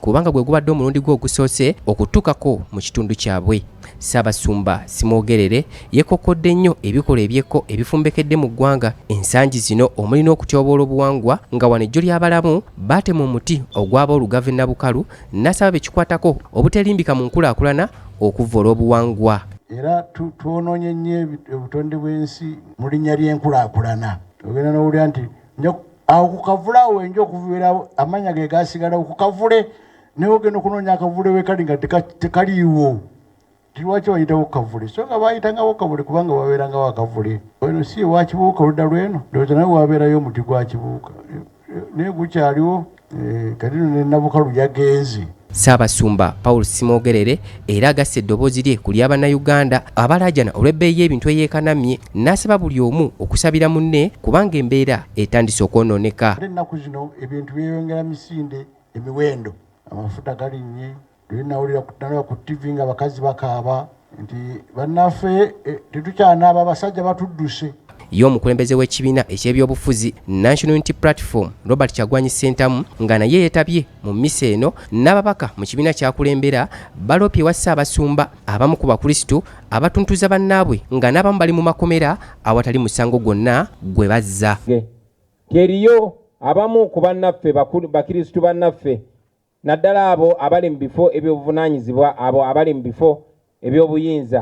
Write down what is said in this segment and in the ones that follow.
kubanga gwe gubadde omulundi gwe ogusoose okutuukako mu kitundu kyabwe Ssaabasumba Simwogerere yeekokkodde nnyo ebikolwa ebyekko ebifumbekedde mu ggwanga ensangi zino omuli n'okutyoboola obuwangwa nga wano ejjo ly'abalamu baatema omuti ogwaba olugave Nabukalu n'asaba be kikwatako obuteerimbika mu nkulaakulana okuvvoola obuwangwa era twonoonye nnyo obutonde bw'ensi mu linnya ly'enkulaakulana ogenda n'owulira nti awo ku kavule awo enja okuviira amanya ge gasigalawo ku kavule naye ogenda okunoonya akavule wekali nga tekaliiwo lwaki wayitawo kavule so nga bayitangawo kavule kubanga wabeerangawo akavule eno si ewakibuuka oludda lweno ndowooza naye wabeerayo omuti gwa kibuuka naye gukyaliwo Eh, kati no ne nabukalu yagenze Ssaabasumba Paul Simoogerere era agasse eddoboozi lye ku lya Bannayuganda abalaajana olw'ebbeeyi y'ebintu eyeekanamye n'asaba buli omu okusabira munne kubanga embeera etandise okwonooneka. Ennaku zino ebintu byeyongera misinde emiwendo, amafuta galinnye, Luli nawulira nalaba ku ttivi nga bakazi bakaaba nti bannaffe eh, tetukyanaaba abasajja batudduse. Ye omukulembeze w'ekibiina eky'ebyobufuzi National Unity Platform Robert Kyagwanyi Ssentamu nga naye yetabye mu mmisa eno n'ababaka mu kibiina kyakulembera baloopye ewa Ssaabasumba abamu ku Bakrisitu abatuntuza bannaabwe nga n'abamu bali mu makomera awatali musango gwonna gwe bazza. Teriyo abamu ku bannaffe Bakirisitu bannaffe naddala abo abali mu bifo eby'obuvunaanyizibwa, abo abali mu bifo eby'obuyinza,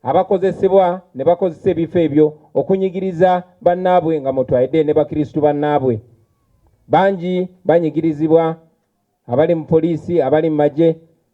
abakozesebwa ne bakozesa ebifo ebyo okunyigiriza bannaabwe nga mw'otwalidde ne Bakristu bannaabwe. Bangi banyigirizibwa, abali mu poliisi, abali mu magye,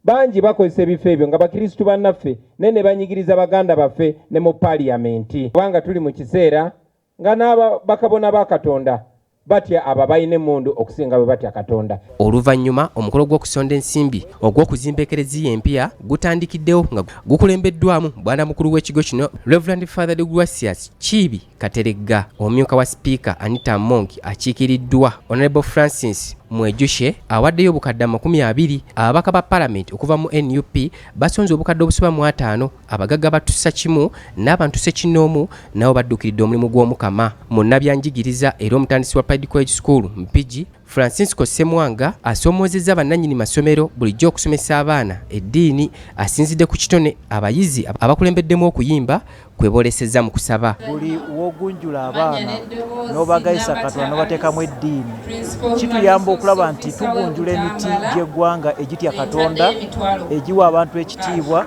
bangi bakozesa ebifo ebyo nga Bakristu bannaffe naye ne banyigiriza baganda baffe ne mu Paaliyamenti. Kubanga tuli mu kiseera Nga n'aba, bakabona ba Katonda batya abo abalina emmundu okusinga bwe batya Katonda. Oluvannyuma omukolo gw'okusonda ensimbi ogw'okuzimba Eklezia empya gutandikiddewo nga gukulembeddwamu Bwana Mukulu w'ekigo kino Rev. Father Deogratius Kiibi Kateregga, omumyuka wa Sipiika Anita Among akiikiriddwa Honourable Francis Mwejushe awaddeyo obukadde amakumi abiri. Ababaka ba Palamenti okuva mu nup basonze obukadde obusoba mu ataano Abagagga batussa kimu n'abantu ssekinnoomu nabo baddukiridde omulimu gw'Omukama. Munnabyanjigiriza era omutandisi wa Pied College School Mpigi, Francisco Ssemwanga asoomoozezza bannannyini masomero bulijjo okusomesa abaana eddiini. Asinzidde ku kitone abayizi abakulembeddemu okuyimba kwe boolesezza mu kusaba. Buli w'ogunjula abaana n'obagayisa Katonda n'obateekamu eddiini kituyamba okulaba nti tugunjula emiti gy'eggwanga egitya Katonda, egiwa abantu ekitiibwa.